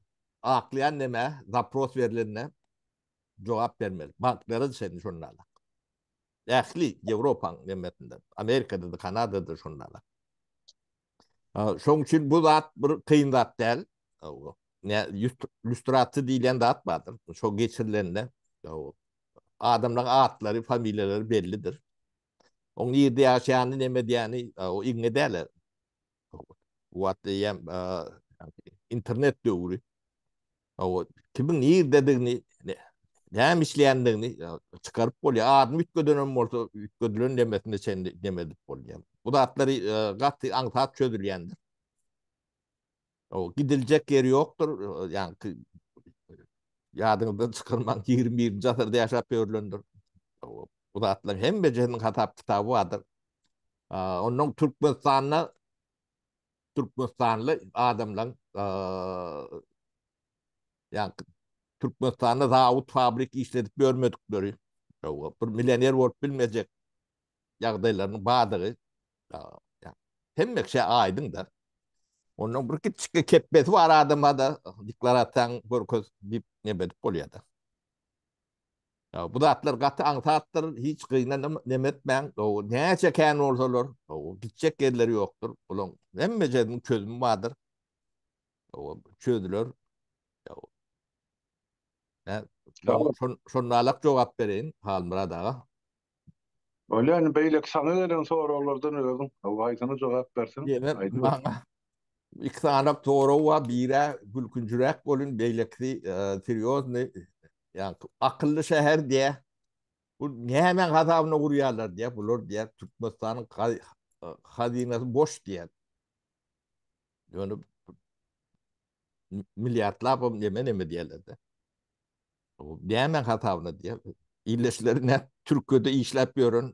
aklaýan näme zapros berlende jogap bermeli. Banklary çenli şondalar. Ähli Ýewropanyň hemmesinde, Amerikada da, Kanadada da şondalar. Şoň üçin bu zat bir kyn zat däl. Ne lýustrasiýa diýlen zat bardyr. Şo geçirilende adamlaryň atlary, familiýalary bellidir. Oň nirde ýaşaýany neme edýäni o iňňe dälä. Bu wagt eýýäm internet döwri. O kimiň nirdedigini, näme işleýändigini çykaryp bolýar. Adam üýtgeden hem bolsa, üýtgedilen nemesine çenli neme edip bolýar. Bu zatlary gaty aňsat çözülýändir. O gidiljek ýeri ýokdur. Ýaňky ýadyňyzdan çykarmaň, 21-nji asyrda ýaşap ýörlendir. Bu zatlaryň hemmesiniň hasap kitaby bardyr. Ondan Türkmenistanda Türkmenistanly adamlaryň ýaňky Türkmenistanda zawod, fabrik işledip ýörmedikleri, bir millioner bolup bilmejek ýagdaýlarynyň bardygy hemme kişä aýdyň-da. Onuň bir kiçijik kepbesi bar adama-da deklarasiýaň görkez diýip neme edip bolýar-da. Bu zatlar gaty aňsatdyr, hiç gynanyp neme etmäň. Näçe kän bolsalar, gitjek ýerleri ýokdur. Bularyň hemme jeriniň çözümi bardyr. Çözüler. Şonda-la jogap bereýin Halmyrat aga. Bolýa indi beýleki saňa gelen soraglardan özüň hawa haýsyna jogap berseň aýdyber. Maňa iki sany sorag bar biri gülkünjiräk bolun beýlekisi serýozny ýagny akylly şäher diýä bu nämäň hasabyna gurýarlar diýä bular diýä Türkmenistanyň hazynasy boş diýä ýöne milliardlap neme neme diýerler de. Nämäň hasabyna diýýär. Ildeşleri ne Türkiýede işläp ýören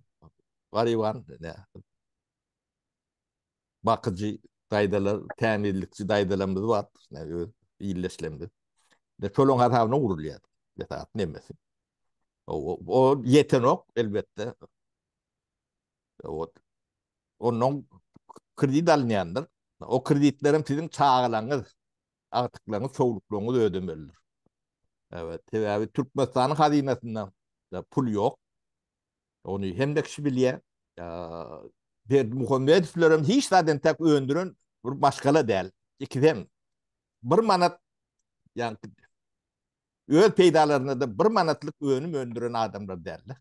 garyban ne bakyjy daýzalar, tämizlikçi daýzalarymyz bar. Ne öz ildeşlerimiz. Ne şolaryň hasabyna gurulýar. Esas nemesi. O, o ýetenok elbetde. O, ondan kredit alynýandyr. O kreditleriň siziň çagalaryňyz agtyklaryňyz, sowluklaryňyz ödemelidir. Evet, sebäbi Türkmenistanyň hazynasynda pul ýok. Ony hemme kişi bilýär. Berdi Muhammedowlar hem hiç zaden tak öndüren bir maşgala däl. İkiden bir manat yani öz peydalarına da bir manatlık önüm öndüren adamlar derler.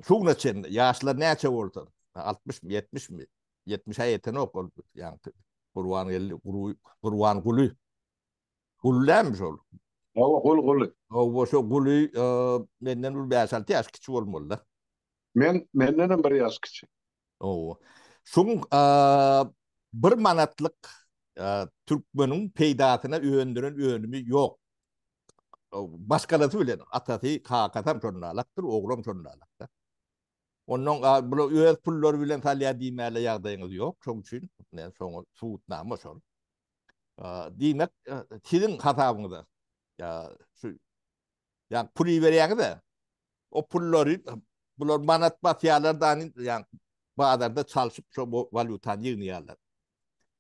Sugna çen ýaşlar näçe bolsa, altmyşmy, ýetmişmi, ýetmişe ýetenok ol, ýaňky Gurbangeldi, Gurbanguly. Guly dälmi şol? Hawa, Guly, Guly. Hawa, şo Guly menden bir bäş-alty ýaş kiçi bolmaly-da. Men, mendenem bir ýaş kiçi. Ow. Şuň bir manatlyk türkmeniň peýdasyna öndüren önümi ýok. Başgalasy bilen atasy, kakasam şonalakdyr, oglam şonalakda. Onnoň bula öz pullary bilen salýar diýmäle ýagdaýyňyz ýok. Şoň üçin men şoňa subutnama şol. Diýmek, siziň hasabyňyza şu Ýa pul iberýäňiz-ä. O pullary bular manat basýarlar dany, ýa bazarda çalşyp şo walýutany ýygnaýarlar.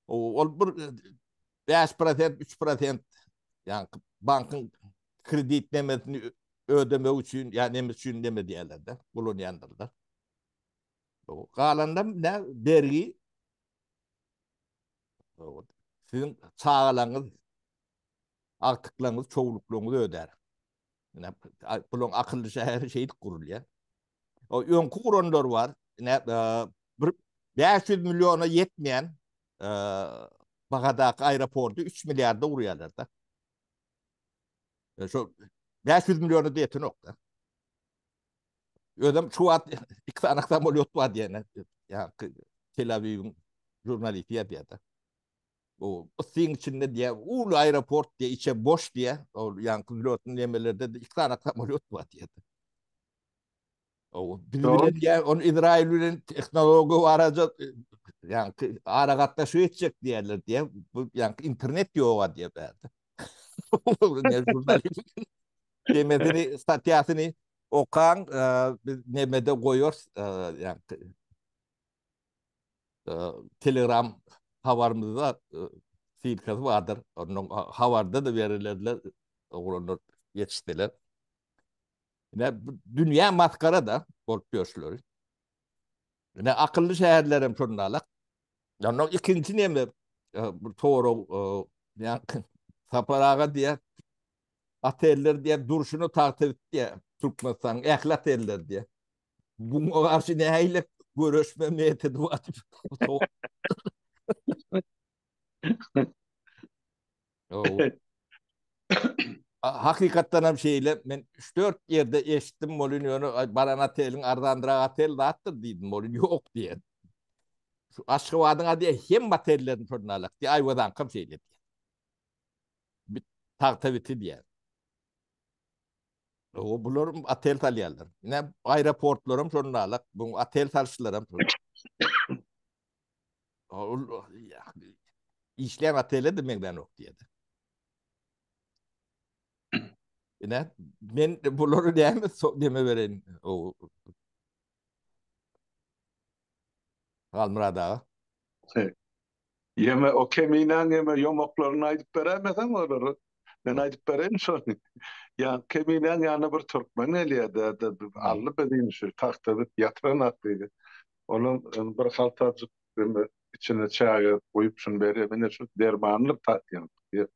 Ol bir bäş prosent, üç prosent, ýa bankyň kredit nemesini ödemegi üçin, ýa neme üçin neme edýärler-de, ulanýandyrlar. Galanynam nä bergi. Siziň çagalaryňyz agtyklaryňyz, çowluklaryňyz ödär. Ine, bulaň akylly şäheri şeýdip gurulýar. O öňki guranlar bar. Ine, e, bir 500 milliona ýetmeýän e, bahadaky aeroporty 3 milliarda gurýarlar da. E, şo 500 milliona diýetin ýok da. Özüm şu wagt iki sany samolyot bar diýene. Ýa Tel Awiwiň jurnalisti ýa diýýär. Bu ysyň içinde diýä, uly aeroport diýä, içe boş diýä. Ol ýaňky zlotny nemelerde de iki sany samolýot bar diýä. O biz bilen diýä, ol Izrail bilen tehnologiýa baraja ýaňky ara gatnaşyk etjek diýerler diýä. Bu ýaňky internet ýoga diýä bärde. Demedini statýasyny okan biz nemede goýar ýaňky Telegram habarymyzda silkasy bardyr. Onuň habarda da berilediler. Oglanlar yetişdiler. Ine dünýä maskara da bolup ýörşüler. Ine akylly şäherler hem şondalar. Ondan ikinci neme bir sorag yani Sapar aga diye oteller diye durşuna tagta diye Türkmenistan ehli oteller diye. Buňa garşy nähili göreşme metodi bar? Hakykatdan hem şeýle, men 3-4 ýerde eşitdim bolýyn, ýöne baran oteliň arzandyrak otel zatdyr diýdim bolýyn, ýok diýen. Şu Aşgabadyň ady hemme otellerini şondan alak diýen, Aýwazaňkam şeýle diýen. Tagtabiti diýen. O bular otel salýarlar. Ne aeroportlar hem şonda alak, bu otel salşylar hem. Ol işleýän otele de meňden ok diýdi. Ne men bulary näme deme beren o Galmyrada. Ýeme o keminäň ýeme ýomaklaryny aýdyp beräýmeseň olary. Men aýdyp bereýin şony. Ýa keminäň ýanyna bir türkmen gelýär däde Ally biziň şu tagta bit ýatyranak diýdi. Onuň bir haltajyk içine çaýy guýup şuny berýär. Mine şu dermanlyk tatýaň diýip.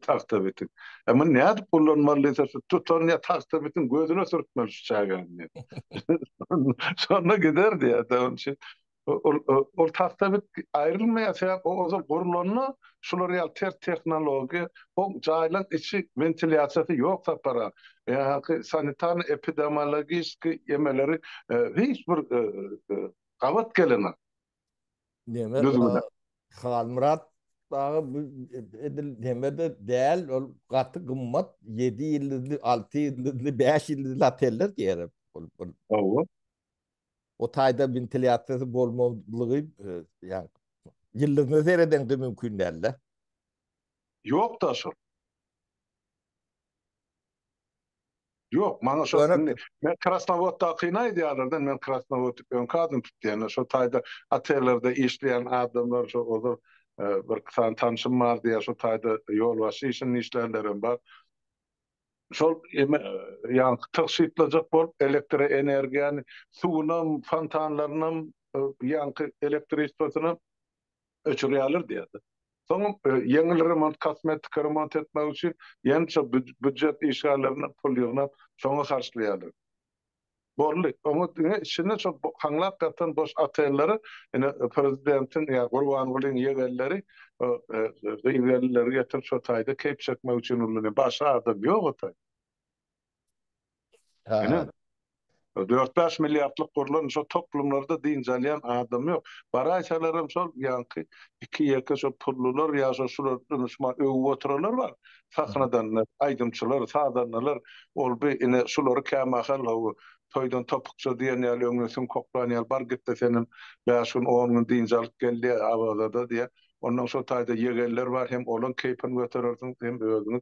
Tagta bitin. E muny nädip gullanmaly diýse, tutan ýa tagta bitin gözüne sürtmeli şu çagany diýen. Şonda gider diýýärdi. Onuň üçin ol ol tagta bit aýrylmaýar. Sebäp o ozal gurlanda şular ýaly ters tehnologiýa, o jaýlaryň içi wentilýasiýasy ýok sapar-a. Beýleki sanitarno-epidemiologiski ýemeleri hiç bir gabat gelenok. Neme Düzgüne. Halmyrat daga bu edil nemede däl ol gaty gymmat 7 ýyldyzly 6 ýyldyzly 5 ýyldyzly oteller diýerim. Ol ol Hawa. o taýda wentilýasiýasy bolmazlygy e, ýa ýyldyzyna seredeňde mümkin däl-de. Ýok-da şol. Ýok, maňa şo indi men Krasnowoddakyny aýdýarlar-da, men Krasnowod öňki adyny tutýan-da, şo taýda otellerde işleýän adamlar, şo ozal birki sany tanşym bar diýýär, şo taýda ýolbaşçy işinde işlänlerem bar. Şol eme, ýaňky tygşytlajak bolup, elektroenergiýany, suwunam, fontanlarynam, ýaňky elektriçesinam öçürýärler diýýärdi. Soňam ýeňil remont, kosmetiki remont etmek üçin ýeňil býujet işgärlerinden pul ýygnap, şoňa harçlaýarlar. Boldy. Oňa diňe içinde şol haňlap ýatan boş otellere ine prezidentiň ýa Gurbangulyň ýegenleri gyz-gelinleri getirip şo taýda keýp çekmek üçin ulanýar. Başga adam ýok o taýda. Ine, dört-bäş milliardlyk gurlan şo toplumlarda dynç alýan adam ýok. Baraýsalaram şol ýaňky iki-ýeke şo pullular ýa şo şular dynçman öwüp oturalar bar. Sahnadan aýdymçylar, sazandalar ol bi ine şulary kämahal hawa toýdan topukça diýen ýaly öňüne süňk oklan ýaly bar gitde senem bäş gün, on gün dynç alyp gel-de Awazada diýýär. Ondan şo taýda ýegenler bar, hem olaň keýpini göterersiňiz, hem özüňiz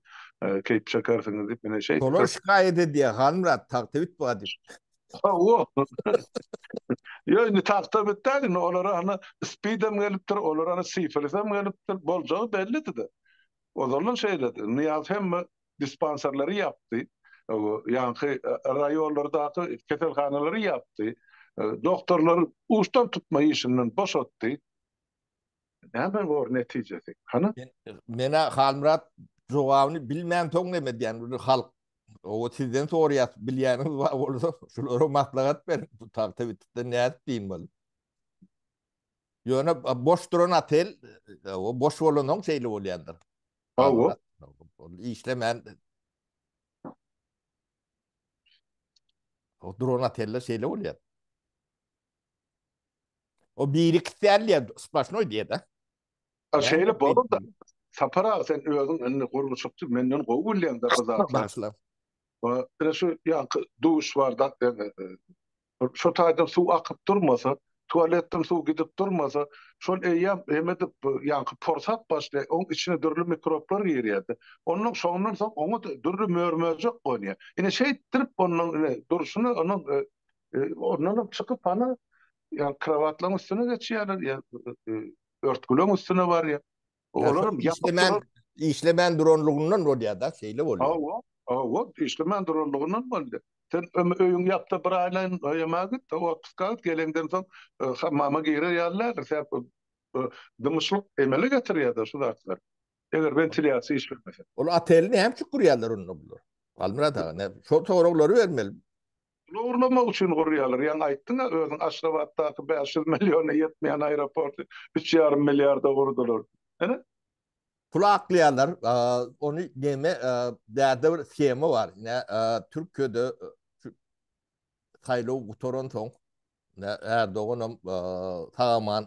keýp çekersiňiz diýip, ine şeýtdi. Şolar şikaýat edýär, Halmyrat, tagta bit ba diýip. Hawa. Ýok, indi tagta bit däl, indi olara hany spidem gelipdir, olara hany sifilisem gelipdir, boljagy bellidi-de. Ozaldan şeýledi. Nyýaz hemme dispanserleri ýapdy. Ýaňky raýonlardaky keselhanalary ýapdy. Doktorlary uçdan tutma işinden boşatdy. Näme bor netijesi? Hany? Menä Halmyrat jogabyny bilmänsoň näme edýän bu halk? Owa sizden soraýas, bilýäniňiz bar bolsa, şulara maslahat beriň. Bu tagta bitipden nädip diýin bol. Ýöne boş duran otel, o boş bolansoň şeýle bolýandyr. Hawa. Ol işlemän. O duran oteller şeýle bolýar. O biri kisiýär diýýär, splaşnoý diýýär-de. Şeýle bolanda, Sapar aga, sen özüň indi gurluşykçy, menden gowy bilýäň-de bu zatlary. Bagyşla. Ine şu ýaňky duş barda, şo taýdan suw akyp durmasa, tualetden suw gidip durmasa, şol eýýäm neme edip, ýaňky porsap başlaýar, oň içine dürli mikroblar girýär-de. Ondan şondan soň oňa-da dürli mör-möjek gonýar. Ine şeýtdirip ondan ine durşuna onuň Ondanam çykyp hany ýa krowatlaryň üstüne geçýärler ýa örtgüleň üstüne barýa. Olaram ýapykman işlemän duranlygyndan bolýar-da, şeýle bolýar. Hawa, hawa, işlemän duranlygyndan bolýar. Sen öýüň ýapda bir aýlaýyn oýamaga git, hawa, otpuska git, geleňden soň hammama girer ýaly däldir. Sebäp dymyşlyk emele getirýär-de şu zatlar. Eger wentilýasiýa işlemese. Ol oteli näme üçin gurýarlar onda bular? Halmyrat aga, şol soraglary bermeli. Pul ogurlamak üçin gurýarlar. Ýaňy aýtdyň-a özüň Aşgabatdaky bäş ýüz milliona ýetmeýän aeroporty üç ýarym milliarda gurdular. Hä? Pul aklaýarlar. Ony näme bärde bir shema bar. Ine Türkiýede saýlaw gutaransoň Erdoganam sag-aman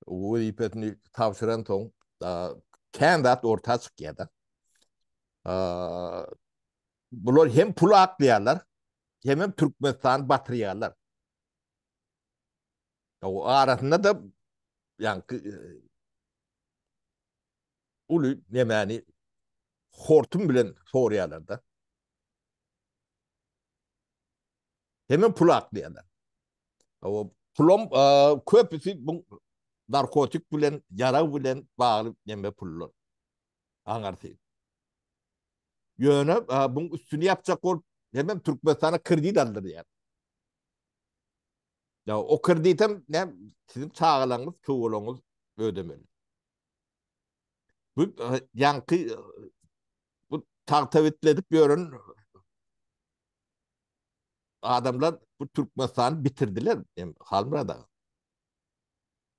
wezipesini tabşyransoň kän zat orta çykýar-da. Bular hem pul aklaýarlar, hemem Türkmenistany batyrýarlar. O arasynda-da ýaňky uly nemäni hortum bilen sorýarlar-da. Hemem pul aklaýarlar. O pulum köpüsi bu narkotik bilen, ýarag bilen bagly neme pullar. aňyrsy. Ýöne buň üstüni ýapjak bolup, hemem Türkmenistana kredit aldyrýar. Ýa o kreditem ne siziň çagalaryňyz, çowalaryňyz ödemeli. Bu ýaňky bu tagta bitledip ýören adamlar bu Türkmenistany bitirdiler, Halmyrat aga.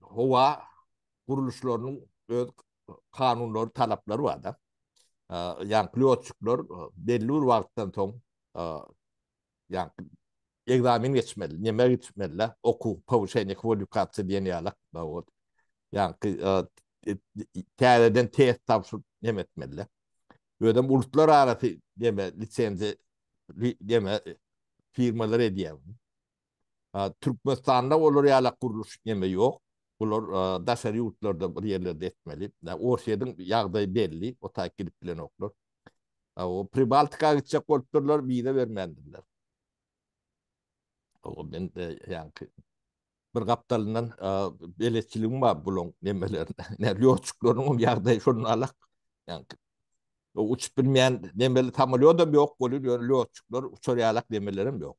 howa gurluşlarynyň öz kanunlary, talaplary bar-da. Ýa pilotçyklar belli bir wagtdan soň ýa ekzamen geçmeli, näme geçmeli, okuw, powuşeniýa kwalifikasiýa diýen ýaly. Ýa täzeden test tabşyryp näme etmeli. Özem ulutlar arasy näme lisenziýa näme firmalar edýär. Türkmenistanda olar ýalak gurluş neme ýok. Bular daşary ýurtlarda bir ýerlerde etmeli. Orsýediň ýagdaýy belli, o taýyk gidip bilenoklar. O Pribaltika gitjek bolupdyrlar, wiza bermändirler. O men ýaňky bir gapdalyndan beletçiligim bar bulaň nemelerine. Nä lýotçyklarynyň ýagdaýy şondan alak. Ýaňky uçup bilmeýän nemeli samolýodam ýok bolýar, ýöne lýotçyklar uçar ýalak nemelerem ýok.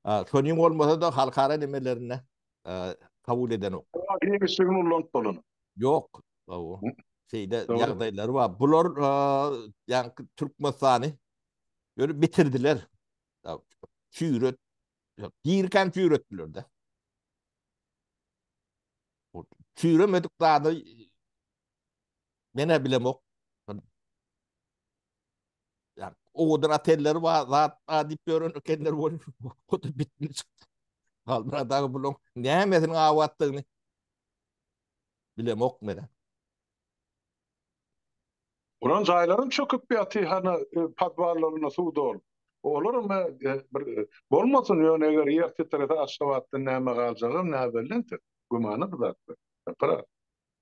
Şonuň bolmasa-da halkara nemelerinde kabul edenok. Giňişligini ulanyp bolan. Ýok. Şeýle ýagdaýlary bar. Bular ýaňky Türkmenistany ýöne bitirdiler. Çüýret, girkäm çüýretdiler-de. Çüýremedik zady men-ä bilemok. Ýa-da owadan otelleri bar zat bar diýip ýören ekenler bolup, o da bitmän çykdy. Halmyrat aga bularyň nämesiniň abatdygyny bilemok men. Onuň jaýlaram çöküp ýatyr, hany podwallarynda suw dolup. Olaram bir bolmasyn, ýöne eger ýer titrese Aşgabatdan näme galjagam näbelli entek. Gümana bu zatlar. Gapyra.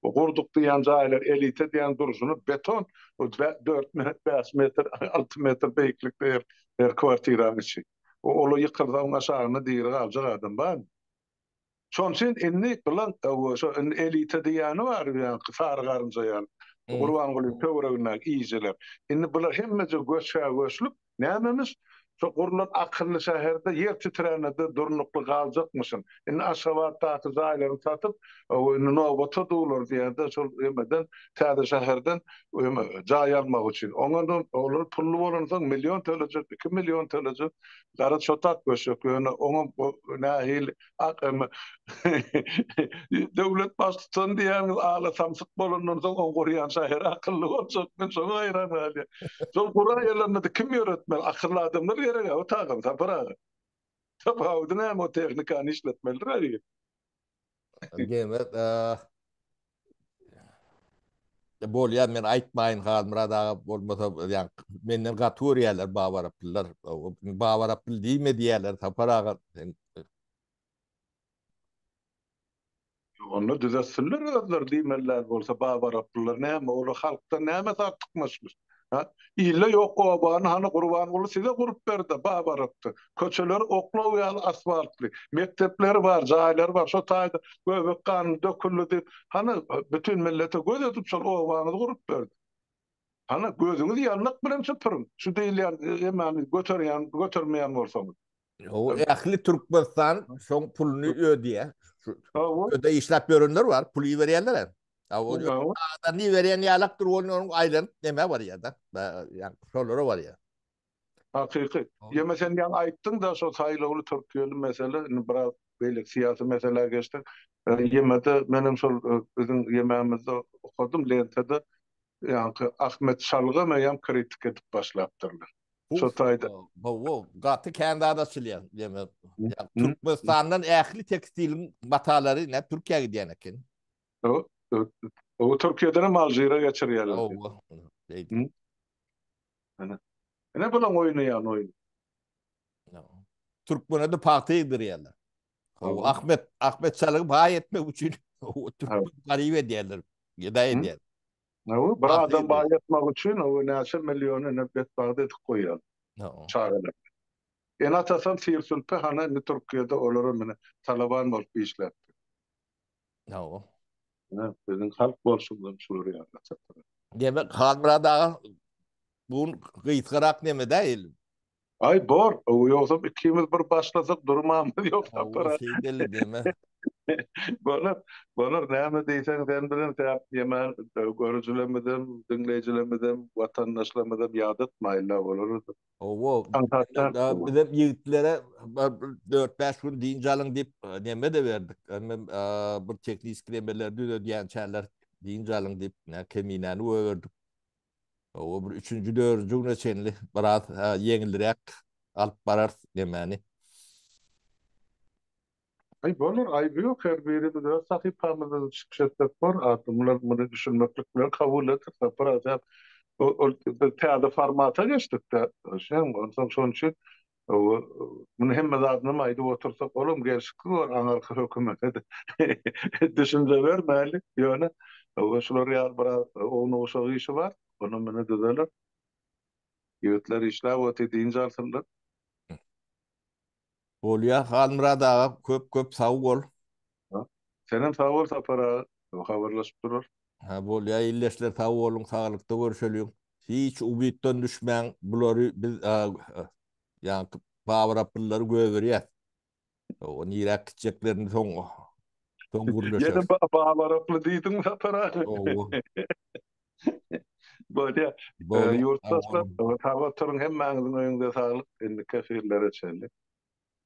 Bu gurduk diýýän jaýlar elita diýýän durşuna beton bu dört metr bäş metr alty metr beýiklikde her her kwartiraň içi. Ol ýykylsa oň aşagynda diri galjak adam barmy? Şoň üçin indi bulan owo şo indi elita diýýäni bar bu ýaňky sary garynja ýaly. Gurbangulyň töweregindäki iýijiler. Indi bular hemmeje göçä göçlüp Nämemiş, şo gurlan akylly şäherde ýer titrände-de durnukly galjakmyşyn. Indi Aşgabatdaky jaýlaryny satyp, indi nobata durlar diýýär-de, şol emeden, täze şäherden jaý almak üçin. Oňa olar pully bolansoň, million tölejek, iki million tölejek. Gara çotak böşek, ýöne oňa nähili Akamy. Döwlet baştutan diýýäňiz ala samsyk bolandan soň oň gurýan şaýyry akylly boljak men şoňa haýran galýan. Şol guran ýerlerinde kim ýöretmeli akylly adamlar gerek o taýdan Sapar aga. Tapawudy näme o tehnikany işletmelidir. Diýmek bolýar men aýtmaýyn Halmyrat aga bolmasa ýa menden gaty görýärler baba araplylar baba araply diýme diýýärler Sapar aga Onda düzetsinler özleri diýmeliler bolsa baba araplylar näme olar halkdan näme artykmaçlyk Ha? Ilde ýok obany hany Gurbanguly size gurup berdi, babarakdy. Köçeleri oklaw ýaly asfaltly, mekdepleri bar, jaýlary bar. Şo taýda göbek ganyny döküldi diýip, hany bütin millete göz edip şol obaňyzy gurup berdi. Hany gözüňizi ýandak bilen süpüriň, şu diýilýän emani göterýän, götermeýän bolsaňyz. O ähli Türkmenistan şoň puluny ödýär. Öde işläp ýörenler bar, puly berýänler. Adam ni berýän ýalak dur, onuň aýlanyp näme barýar-da. Ýa şolara barýar. Hakyky. Ýöne sen ýa aýtdyň-da şo saýlawly türkiýeli mesele, indi biraz beýleki syýasy meselä geçdik. Ýemede men hem şol biziň ýememizde okadym, lentada ýa Ahmet Şalgam eýýäm kritik edip başlapdyrlar. Şu taýda. Hawa, gaty kän zat açylýar. Demek, Türkmenistandan ähli tekstiliň matalary näme Türkiýä gidýän eken. Hawa, Türkiýeden hem Alžire geçirýärler. Hawa. Beýdip. Ana. Ine bularyň oýnaýan oýny. Türkmenede pagta egdirýärler. Hawa, Ahmet, Ahmet Çalygy baý etmek üçin türkmen garyp edýärler. Gedaý edýärler. Hawa, bir adam baýatmak üçin hawa näçe milliony indi betbagt edip goýýan. Hawa. Çagalar. Ene-atasam sir-sülpe hany indi Türkiýede olaram indi talaban bolup işläpdir. Hawa. Ine, biziň halk bolşumyzam şular ýaly çykyr. Demek, Halmyrat aga, bu gün gysgarak neme-dä il? Aý bor, ýogsam ikimiz bir başlasak durmamyz ýok Sapar aga. Şeý belli deme. Bolar, bolar näme diýseň sen bilen säp ýemän görüjilemizem, diňleýjilemizem, watandaşlarymyzam ýadatmaýynda olarada. Hawa, biz hem ýigitlere dört-bäş gün dynç alyň diýip neme-de berdik. Bir tehniski nemeleri düzedýänçäler dynç alyň diýip Keminäni goýberdik. Gowy bir üçünji dördünji güne çenli biraz ýeňilräk alyp bararys nemäni. Aý bolar aýby ýok her birimiz öz sahypamyzda çykyş etsek bor atly mular muny düşünmeklik bilen kabul et sapar aja ol biz täze formata geçdikde şeň onsoň şonuçin Muny hemme zadynam aýdyp otursak, olam gelşiksiz bolar aňyrky hökümete düşünje bermäli. Ýöne şular ýaly biraz ownuk-uşak işi bar. Onam ine düzeler. Ýigitler işläp otyr, dynç alsynlar. Bolýar, Halmyrat aga, köp-köp sag bol. Ha. Senem sag bol Sapar aga. Soň habarlaşyp durarys. Ha bolýa ildeşler sag boluň saglykda görşeliň. Hiç ubitdan düşmäň bulary biz ýaňky Babyr Apyllylary gögerýäs. O niräk gitjeklerini soň soň gürleşeris. Ýene Babyr Apyly diýdiň Sapar aga. Howwa. Bolýa. Ýurtdaşlar sag oturyň hemmäňiziň öýüňize saglyk indiki efirlere çenli.